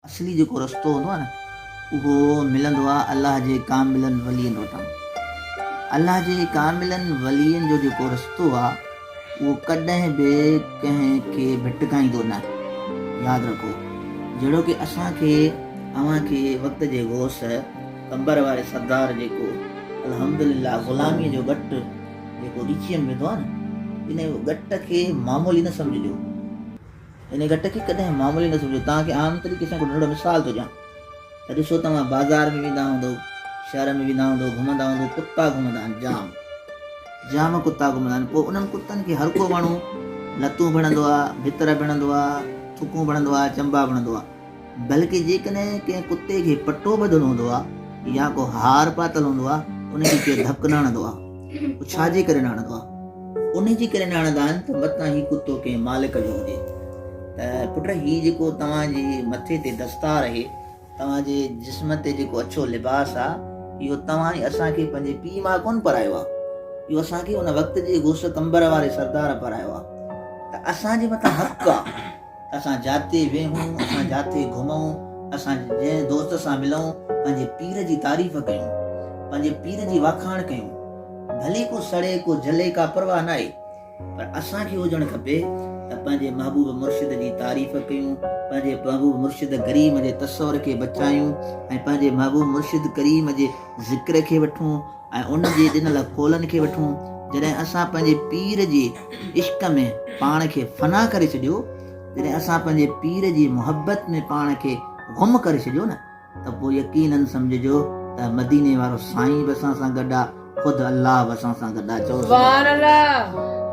اصلي جيڪو رستو هوندو آهي نه اهو ملندو آهي الله جي ڪاملن ولين وٽان. الله جي ڪاملن ولين جو جيڪو رستو آهي اهو ڪڏهن به ڪنهن کي ڀٽڪائيندو نه. ياد رکو جهڙوڪ اسان کي اوهان کي وقت جي غوث قمبر واري سردار جيڪو الحمدلله غلاميء جو ڳٽ جيڪو ڳچيء ۾ وڌو آهي نه ان ڳٽ کي معمولي نه سمجهجو. ان گٽ کي ڪڏهن معمولي نه سمجهو، توهان کي عام طريقي سان هڪ ننڍڙو مثال ٿو ڏيان ته ڏسو توهان بازار ۾ ويندا هوندؤ، شهر ۾ ويندا هوندؤ، گهمندا هوندؤ، ڪتا گهمندا آهن جام جام ڪتا گهمندا آهن، پوء انهن ڪتن کي هر ڪو ماڻهو لتون ڀڻندو آهي، ڀتر ڀڻندو آهي، ٿڪون ڀڻندو آهي، چنبا ڀڻندو آهي. بلڪه جيڪڏهن ڪنهن ڪتي کي پٽو ٻڌل هوندو آ يا ڪو هار پاتل هوندو آ ان کي ڪير ڌڪ نه هڻندو آ پوء ڇا جي ڪري نه هڻندو آ؟ ان جي ڪري نه هڻندا آهن ته متان هي ڪتو ڪنهن مالڪ جو هجي ته پٽ هي جيڪو توهان جي مٿي تي دستار اهي توهان جي جسم تي جيڪو اڇو لباس آ اهو توهان ۽ اسان کي پنهنجي پيء ماء ڪونه پرايو آ اهو اسان کي ان وقت جي غوث قمبر واري سردار پرايو آ ته اسان جي مٿان حق آ اسان جاتي ويهون، اسان جاتي گهمون، اسان جنهن دوست سان ملون، پنهنجي پير جي تعريف ڪيون، پنهنجي پير جي واکاڻ ڪيون، ڀلي ڪو سڙي ڪو جلي ڪا پرواهه ناهي، پر اسان کي هجڻ کپي ته پنهنجي محبوب مرشد جي تعريف ڪيون، پنهنجي محبوب مرشد ڪريم جي تصور کي بچايون ۽ پنهنجي محبوب مرشد ڪريم جي ذڪر کي وٺون، ۽ ان جي ڏنل قولن کي وٺون، جڏهن اسان پنهنجي پير جي عشق ۾ پاڻ کي فنا ڪري ڇڏيو، جڏهن اسان پنهنجي پير جي محبت ۾ پاڻ کي گم ڪري ڇڏيو نه ته پوء يقينن سمجهجو ته مديني وارو سائين به اسان سان گڏ آ، خود الله به اسان سان گڏ آ. چؤ سبحان الله.